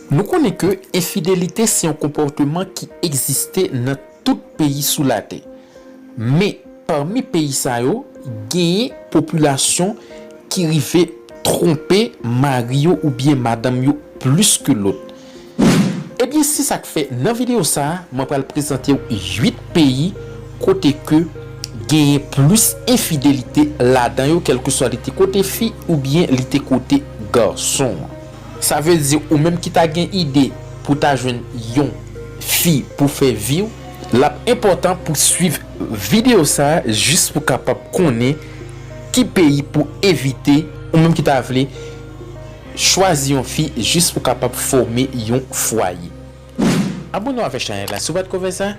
Nou konnen ke enfidelite se yon konpòteman ki egziste nan tout peyi sou latè. Men, pami peyi sa yo, genyen popilasyon ki rive twonpe mari yo oubyen madanm yo plis ke lòt. Ebyen se sak fè nan video sa mwen pral prezantew 8 peyi kote ke genyen plis enfidelite ladan yo kelkeswa li te kote fi oubyen li te kote garson. Sa vle di ou menm ki ta gen ide pou ta jwenn yon fi pou fè viw lap enpòtan pou swiv video sa jis pou kapab konnen ki peyi pou evite ou menm ki ta vle Chwazi yon fi jis pou kapab fome yon fwaye. Abone w avè chanèl la si w pa t ko fè sa,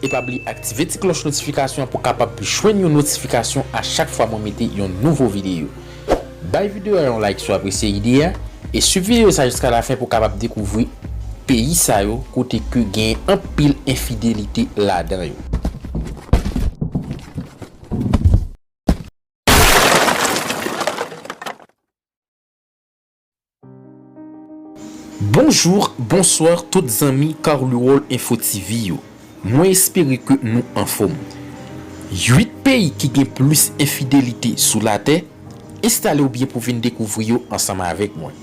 e pa bliye aktive ti klòch notifikasyon an pou kapab jwenn yon notifikasyon a chak fwa mwen mete yon nouvo videyo. Bay videyo a yon like si w apresye ide a, e swiv videyo sa jiska lafen pou kapab dekouvri peyi sa yo kote ke gen anpil enfidelite ladan yo. Bonjour bonsoir tout zanmi carluwol info TV yo mwen espere ke nou anfom 8 peyi ki gen plis enfidelite sou latè enstalew byen pou vin dekouvri yo ansanm avèk mwen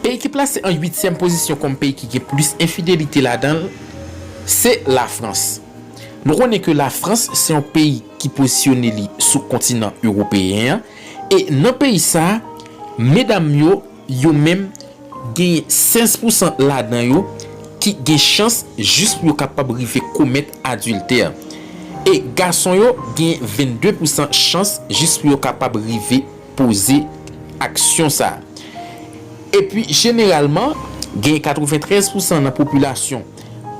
peyi ki plase an 8 tyèm pozisyon kòm peyi ki gen plis enfidelite ladanl se la frans nou konnen ke la frans se yon peyi ki pozisyone li sou kontinan ewopeyen an E nan peyi sa, medam yo, yo menm, genyen 16 pousan ladan yo ki gen chans jis pou yo kapab rive komèt adiltè. E gason yo genyen 22 pousan chans jis pou yo kapab rive poze aksyon sa. Epi jeneralman, genyen 93 pousan nan popilasyon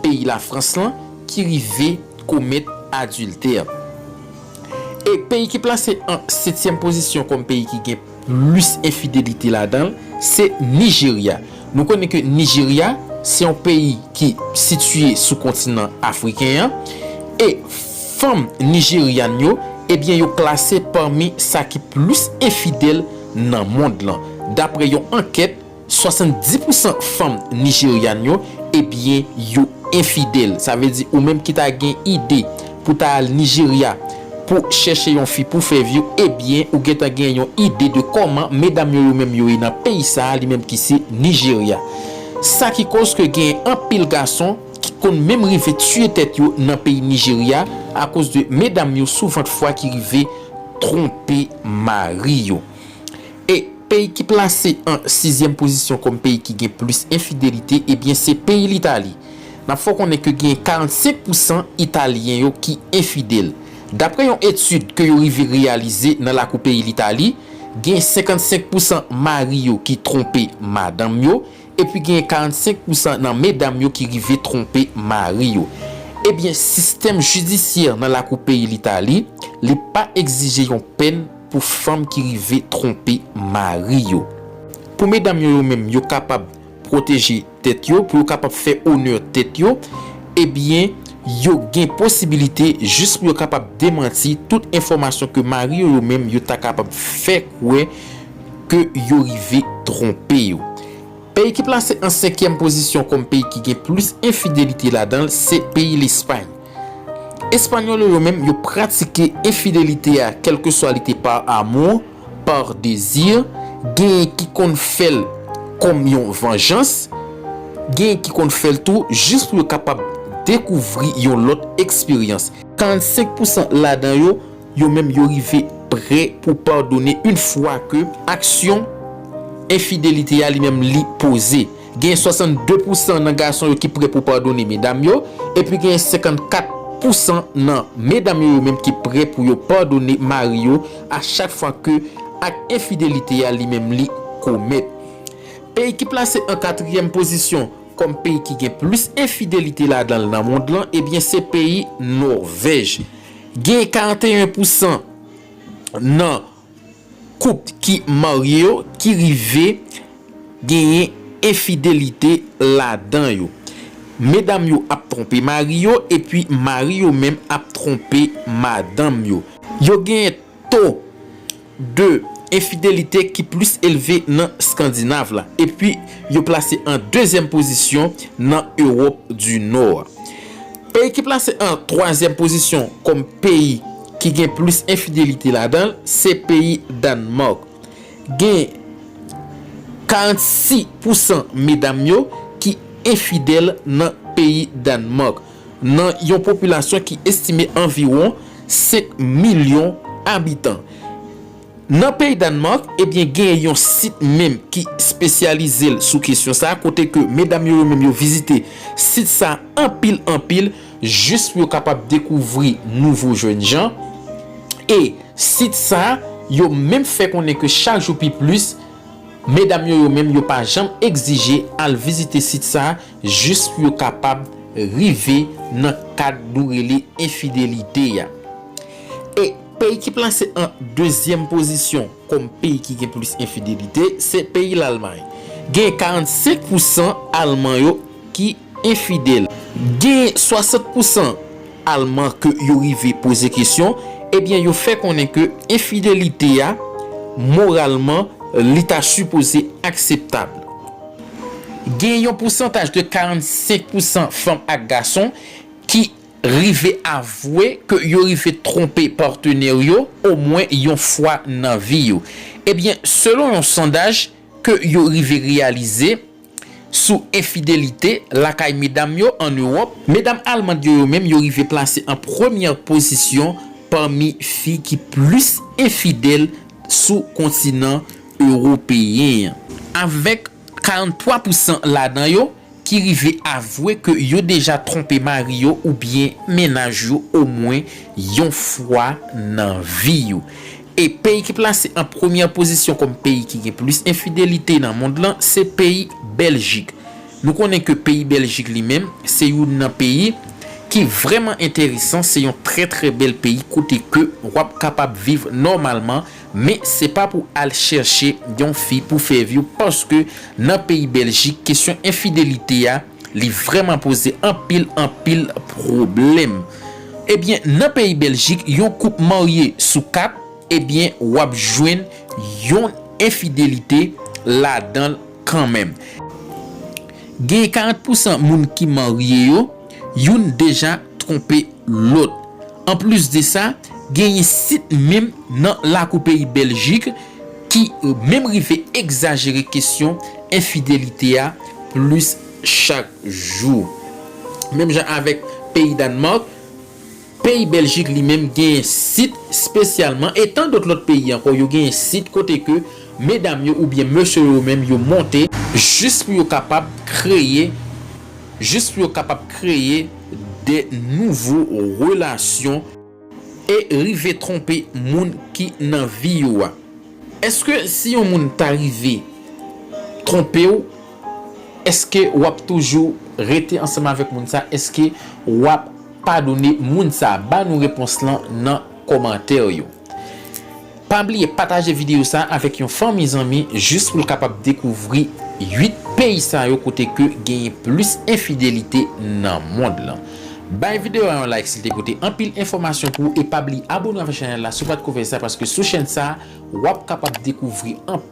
peyi Lafrans lan ki rive komèt adiltè. E peyi ki plase an setyèm pozisyon kòm peyi ki gen plis enfidelite ladan l, se Nijerya. Nou konnen ke Nijerya se yon peyi ki sitiye sou kontinan afriken an, e fanm nijeryann yo, ebyen yo klase pami sa ki plis enfidèl nan mond lan, dapre yon ankèt. 70 pousan fanm Nigerian yo ebyen yo enfidèl sa vle di ou menm ki ta gen ide pou ta al Nigeria pou chèche yon fi pou fè view ebyen ou gentan gen yon ide de kòman medam yo yo menm yo ye nan peyi sa li menm ki se Nigeria sa ki koz ke gen anpil gason ki konn menm rive tiye tèt yo nan peyi Nigeria akoz de medam yo souvent fwa ki rive tronpe mari yo E peyi ki plase an sizyèm pozisyon kòm peyi ki gen plis enfidelite ebyen se peyi Litali. N ap fè w konnen ke genyen 45 pou san Italyen yo ki enfidèl. Dapre yon etid ke yo rive reyalize nan lakou peyi Litali, genyen 55 pou san mari yo ki twonpe madanm yo, epi genyen 45 pou san nan medam yo ki rive twonpe mari yo. Ebyen sistèm jidisyè nan lakou peyi Litali, li pa egzije yon pèn, Pou fanm ki rive twonpe mari yo. Pou medam yo yo menm yo kapab pwoteje tèt yo, pou yo kapab fè onè tèt yo, ebyen yo gen posibilite jis pou yo kapab demanti tout enfòmasyon ke mari yo yo menm yo ta kapab fè kwè ke yo rive twonpe yo. Peyi ki plase an senkyèm pozisyon kòm peyi ki gen plis enfidelite ladan l se peyi Lespay. Españolo yo menm yo pratike enfidelite a kèlkeswa li te par amour, par désir, genyen ki konn fè l kòm yon vanjans, genyen ki konn fè l tou jis pou yo kapab dekouvri yon lòt eksperyans. 45 pousan ladan yo, yo menm yo rive prè pou padone in fwa ke aksyon enfidelite a li menm li poze. Gen 62 pousan nan gason yo ki pre pou padone medam yo, epi gen 54 pousan nan medam yo yo menm ki pre pou yo padone mari yo a chak fwa ke ak enfidelite a li menm li komèt. Peyi ki plase an katriyèm pozisyon kòm peyi ki gen plis enfidelite ladan l nan mond lan ebyen se peyi Nòvèj. Gen 41 pousan nan Koup ki marye yo ki rive genyen enfidelite ladan yo. Medam yo ap twonpe mari yo epi mari yo menm ap twonpe madanm yo. Yo genyen to de enfidelite ki plis elve nan Skandinav la epi yo plase an dezyèm pozisyon nan Ewòp di Nò a. Peyi ki plase an twazyèm pozisyon kòm peyi ki gen plis enfidelite ladan l se peyi Dannmark. Gen 46 pousan medam yo ki enfidèl nan peyi Dannmark, nan yon popilasyon ki estime anviwon 5 milyon abitan. Nan peyi Danemark, ebyen genyen yon sit menm ki spesyalize l sou kesyon sa a, kote ke medam yo yo menm yo vizite sit sa a anpil anpil jis pou yo kapab dekouvri nouvo jènjan. E sit sa a, yo menm fè konnen ke chak jou pi plis, medam yo yo menm yo pa janm egzije al vizite sit sa a jis pou yo kapab rive nan kad nou rele enfidelite a. E. Peyi ki plase an dezyèm pozisyon kòm peyi ki gen plis enfidelite se peyi Lalmay. Gen 45 pou san Alman yo ki enfidèl. Gen 60 pou san Alman ke yo rive poze kesyon, ebyen yo fè konnen ke enfidelite a, moralman, li ta sipoze akseptab. Gen yon pousantaj de 45 pou san fanm ak gason ki. rive avwe ke yo rive twonpe patenè yo omwen yon fwa nan vi yo. Ebyen, selon yon sondaj ke yo rive reyalize sou enfidelite lakay medam yo an Ewòp, medam almand yo yo menm yo rive plase an premyè pozisyon pami fi ki plis enfidèl sou kontinan ewopeyen an. Avèk 43 pousan ladan yo ki rive avwe ke yo deja twonpe mari yo oubyen mennaj yo omwen yon fwa nan vi yo. E peyi ki plase an premyè pozisyon kòm peyi ki gen plis enfidelite nan mond lan se peyi Bèljik. Nou konnen ke peyi Bèljik li menm se youn nan peyi ki vrèman enteresan, se yon trè trè bèl peyi kote ke wap kapab viv nòmalman Men se pa pou al chèche yon fi pou Fairview paske nan peyi Beljik kesyon enfidelite a li vrèman poze anpil anpil pwoblèm. Ebyen nan peyi Beljik yon koup marye sou 4 ebyen wap jwenn yon enfidelite ladanl kanmenm. Gen 40 pousan moun ki marye yo. Youn deja twonpe lòt. Anplis de sa, genyen sit menm nan lakou peyi Bèljik ki menm rive egzajere kesyon enfidelite a plis chak jou. Menm jan avèk peyi Dànmàk, Peyi Bèljik li menm genyen sit spesyalman e tan dot lòt peyi ankò yo genyen sit kote ke medam yo oubyen mesye yo menm yo monte, jis pou yo kapab kreye, jis pou yo kapab kreye de nouvo relasyon e rive twonpe moun ki nan vi yo a. Eske si yon moun ta rive twonpe w, eske wap toujou rete ansanm avèk moun sa, eske wap. padone moun sa ba nou repons lan nan komantè yo pa bliye pataje video sa avèk yon fanmi zanmi jis poul kapab dekouvri 8 peyi sa yo kote ke genyen plis enfidelite nan mond lan bay video a yon like sil te pote anpil enfòmasyon pou ou e pa bliye abone avèk chanèl la si w pat ko fè sa paske sou chèn sa wap kapab dekouvri anpil.